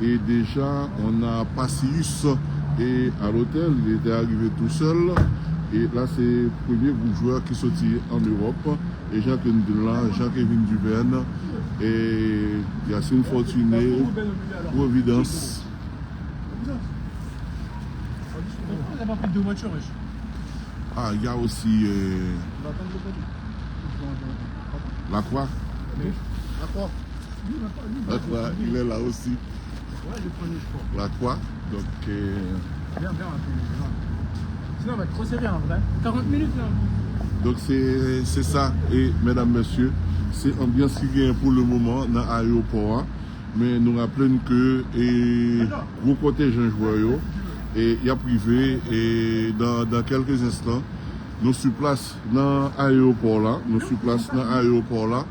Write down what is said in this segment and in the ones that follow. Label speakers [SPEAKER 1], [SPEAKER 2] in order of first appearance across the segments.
[SPEAKER 1] E deja on a Pacius e a l'hôtel, li te arive tou sèl e la se premye gwoup jwè ki soti an Ewòp e jan ke nou di l la Jean Kevin Duverne e Yacine Fortuné Providence
[SPEAKER 2] a
[SPEAKER 1] y a osi Lacroix. La kwa il è la osi La kwa donk
[SPEAKER 2] Donk se
[SPEAKER 1] se sa e medam mesye se anbyans ki genyen pou le moman nan ayewopò a men nou raple n ke e gwo kontenjan jwè yo e y ap rive e dan kèlke zenstan nou su plas nan ayewopò la nou su plas nan ayewopò la.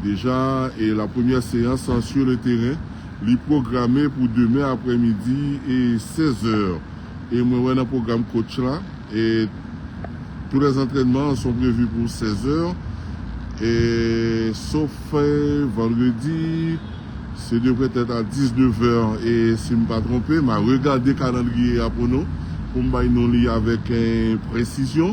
[SPEAKER 1] Deja e la premyè seyans sur le teren li pwograme pou demen aprè midi e 16 zè e mwen wè nan pwogram kotch la e tou lè zantrènman son prevu pou 16 zè e sof vandredi se devrè tèt a 19 zè e si m pa twonpe ma regade kalandriye a pou nou pou m bay nou li avèk presizyon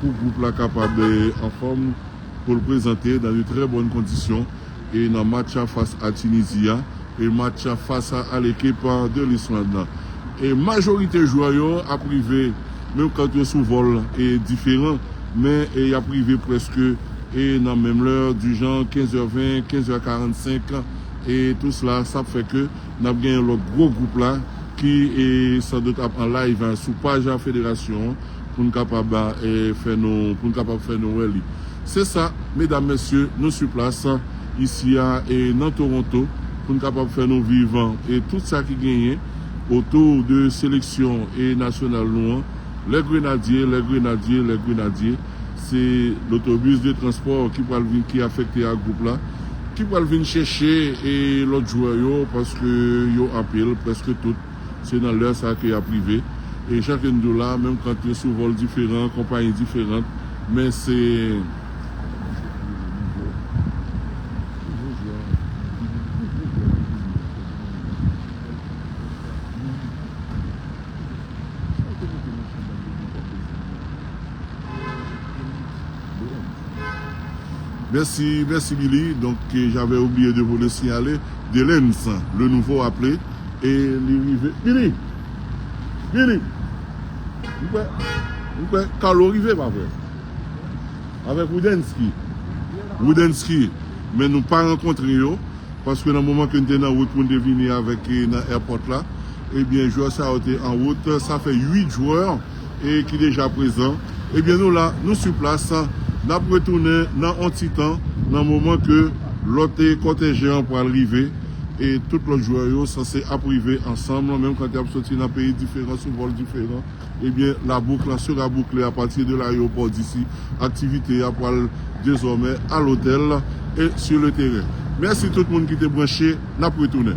[SPEAKER 1] pou gwoup la kapab anfòm pou l prezante nan yon trè bòn kondisyon e nan match a fas a Tunisie a e match a fas a al ekip de l'Islande nan. E majorite jwè yo ap rive menm kant yo sou vòl e diferan men e yap rive prèske e nan menm lè di jan 15 è 20, 15 è 45 e tou sla sa ap fè ke nap genyen lòt gwo gwoup la ki e san dout ap an live sou paj a federasyon an. pou n kapab fè nou pou n kapab fè nou wè li. Se sa, medam, mesye, nou su plas isi a nan Toronto pou n kapab fè nou viv tout sa ki genyen otou de seleksyon nasyonal nou an, Les Grenadiers, Les Grenadiers, Les Grenadiers. Se lotobis de transpò ki pral vin ki afekte a gwoup la ki pral vin chèche lòt jwè yo paske yo anpil, prèske tout. Se nan lè sa ke yap rive. E jan ke n di w la, menm kant yo sou vòl diferan, konpayi diferant, men se. Mèsi, mèsi Billy. Donk, j'avais oublié de vous le signaler. Delens le nouveau aple e li rive Mimi! Mimi! M kwè M kwè Carlo rive pa vre? Avèk Roudensky Roudensky Men nou pa rankontre yo paske nan moman ke n te nan wout pou n te vini avèk nan airport la ebyen jwè sa yo te an wout sa fè 8 jwè e ki deja prezan ebyen nou la nou su plas nap retounen nan on ti tan nan moman ke lòt kòtèjen an pral rive e tout lòt jwè yo sanse ap rive ansanm menm kan yap soti nan peyi diferan sou vòl diferan ebyen la bouk lan sera boucle apati de layeopò disi aktivite ya pral dezòmè a lotèl e su le teren mèsi tout moun ki te branche nap retounen.